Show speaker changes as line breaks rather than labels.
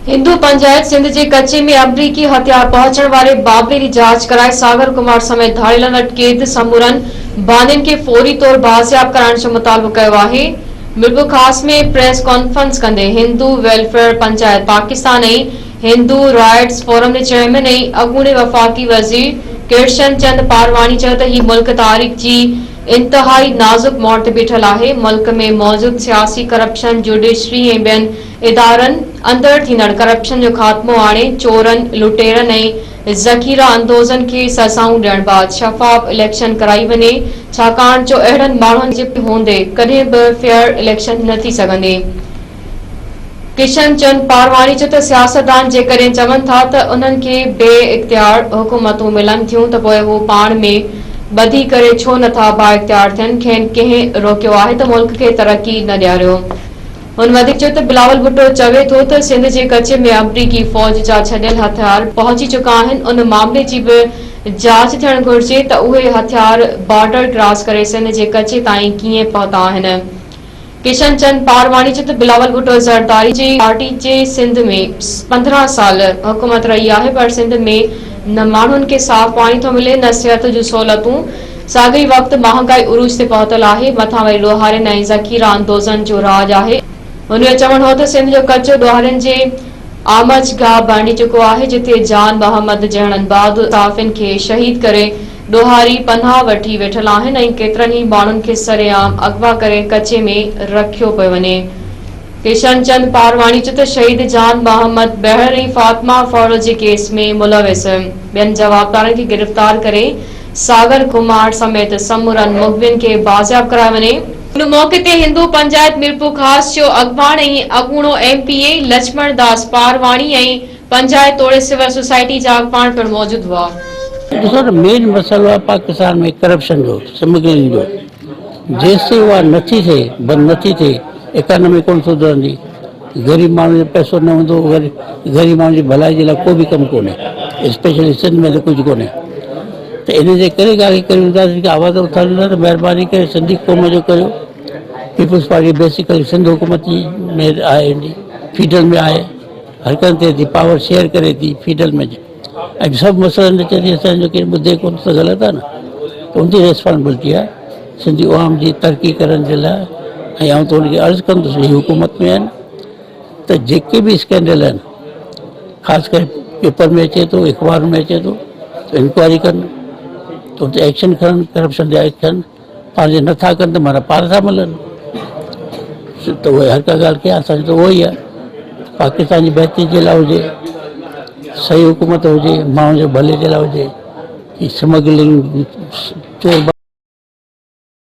هندو پنجائت سنڌ جي ڪچي ۾ آمريڪي هٿيار پهچڻ واري بابري جي جاچ ڪرائي ساگر ڪمار سميت ڌاڙيلن وٽ قيد سمورن بانين کي فوري طور بازياب ڪرائڻ جو مطالبو ڪيو آهي ميرپورخاص ۾ پريس ڪانفرنس ڪندي Hindu welfare panchayat Pakistan ۽ Hindu rights forum جي چيئرمين ۽ اڳوڻي وفاقي وزير ڪرشن چند پارواڻي چيو ته هي ملڪ تاريخ جي انتهائي نازڪ موڙ تي بيٺل آهي ملڪ ۾ موجود سياسي ڪرپشن جوڊيشري ۽ ٻين ادارن اندر ٿيندڙ ڪرپشن جو خاتمو آڻي، چورن، لٽيرن ۽ ذخيره اندوزن کي سزائون ڏيڻ بعد شفاف اليڪشن ڪرائي وڃي، ڇاڪاڻ جو اهڙن ماڻهن جي پٺيان هوندي ڪڏهن به فيئر اليڪشن نه ٿي سگهندي. ڪشن چند پارواڻي چيو ته سياستدان جيڪڏهن چون ٿا ته انهن کي بي اختيار حڪومتون ملن ٿيون ته پوء هو پاڻ ۾ ٻڌي ڪري ڇو نه ٿا بااختيار ٿين، کين ڪنهن روڪيو آهي ته ملڪ کي ترقي نه ڏياريو. هن وڌيڪ چيو ته بلاول ڀٽو چوي ٿو ته سنڌ جي ڪچي ۾ آمريڪي فوج جا ڇڏيل هٿيار پهچي چڪا آهن، ان معاملي جي به جاچ ٿيڻ گهرجي ته اهي هٿيار بارڊر ڪراس ڪري سنڌ جي ڪچي تائين ڪيئن پهتا آهن. ڪشن چند پارواڻي چيو ته بلاول ڀٽو زرداري جي پارٽي جي سنڌ ۾ پندرهن سال حڪومت رهي آهي پر سنڌ ۾ نه ماڻهن کي صاف پاڻي ٿو ملي نه صحت جون سهولتون، ساڳئي وقت مهانگائي عروج تي پهتل آهي، مٿان وري ڏوهارين ۽ ذخيره اندوزن جو راڄ آهي. هن جو چوڻ هو ته سنڌ جو ڪچو ڏوهارين جي آمچ گاهه بڻجي چڪو آهي، جتي جان محمد جهڙن انباهه صحافين کي شهيد ڪري ڏوهاري پناهه وٺي ويٺل آهن ۽ ڪيترن ئي ماڻهن کي سري عام اغوا ڪري ڪچي ۾ رکيو پيو وڃي. ڪشن چند پارواڻي چيو ته شهيد جان محمد بهڙ ۽ فاطمه ڦاڙو جي ڪيس ۾ ملوث ٻين جوابدارن کي گرفتار ڪري ساگر ڪمار سميت سمورن مغوين کي بازياب ڪرايو وڃي. ان موقعي تي هندو پنجائت ميرپورخاص جو اڳواڻ ۽ اڳوڻو M P A Lachhman Das Parwani ۽ panchayat توڙي سول سوسائٽي جا اڳواڻ پڻ موجود هئا. ڏسو ته
مين مسئلو آهي پاڪستان ۾ ڪرپشن جو سمگلنگ جو جيستائين اها نٿي ٿئي بند نٿي ٿئي اڪانومي ڪونه سڌرندي. غريب ماڻهو جو پئسو نه هوندو غريب ماڻهو جي ڀلائي جي لاء ڪو به ڪم ڪونهي اسپيشلي سنڌ ۾ ته ڪجهه ڪونهي ته ان جي ڪري ڳالهه ڪريون ٿا جيڪي آواز اٿاريون ٿا ته مهرباني ڪري سنڌي قوم جو ڪريو پيپلز پارٽي بيسيڪلي سنڌ حڪومت جي ۾ آهي فيڊرل ۾ آهي حرڪت ٿئي ٿي پاور شيئر ڪري ٿي فيڊرل ۾ اڄ سڀ مسئلن تي چئجي اسان جو ڪير ٻڌي ڪونه ته غلط آهي نه ان جي ريسپانسبلٽي آهي سنڌي عوام جي ترقي ڪرڻ جي لاء ۽ آئون ته ان کي عرض ڪندس هي حڪومت ۾ آهن ته جيڪي به اسڪينڊل آهن خاص ڪري پيپر ۾ اچي ٿو اخبار ۾ اچي ٿو انڪوائري ڪن ته اتي ايڪشن کڻن ڪرپشن جا ايڪشن پنهنجي نٿا ڪن ته معنيٰ پاڻ ٿا ملن ته اهو هر ڪا ڳالهه ڪي اسان کي ته اهو ئي آهي پاڪستان جي بهتري جي لاء هجي صحيح حڪومت هجي ماڻهن جي ڀلي جي لاء هجي سمگلنگ چور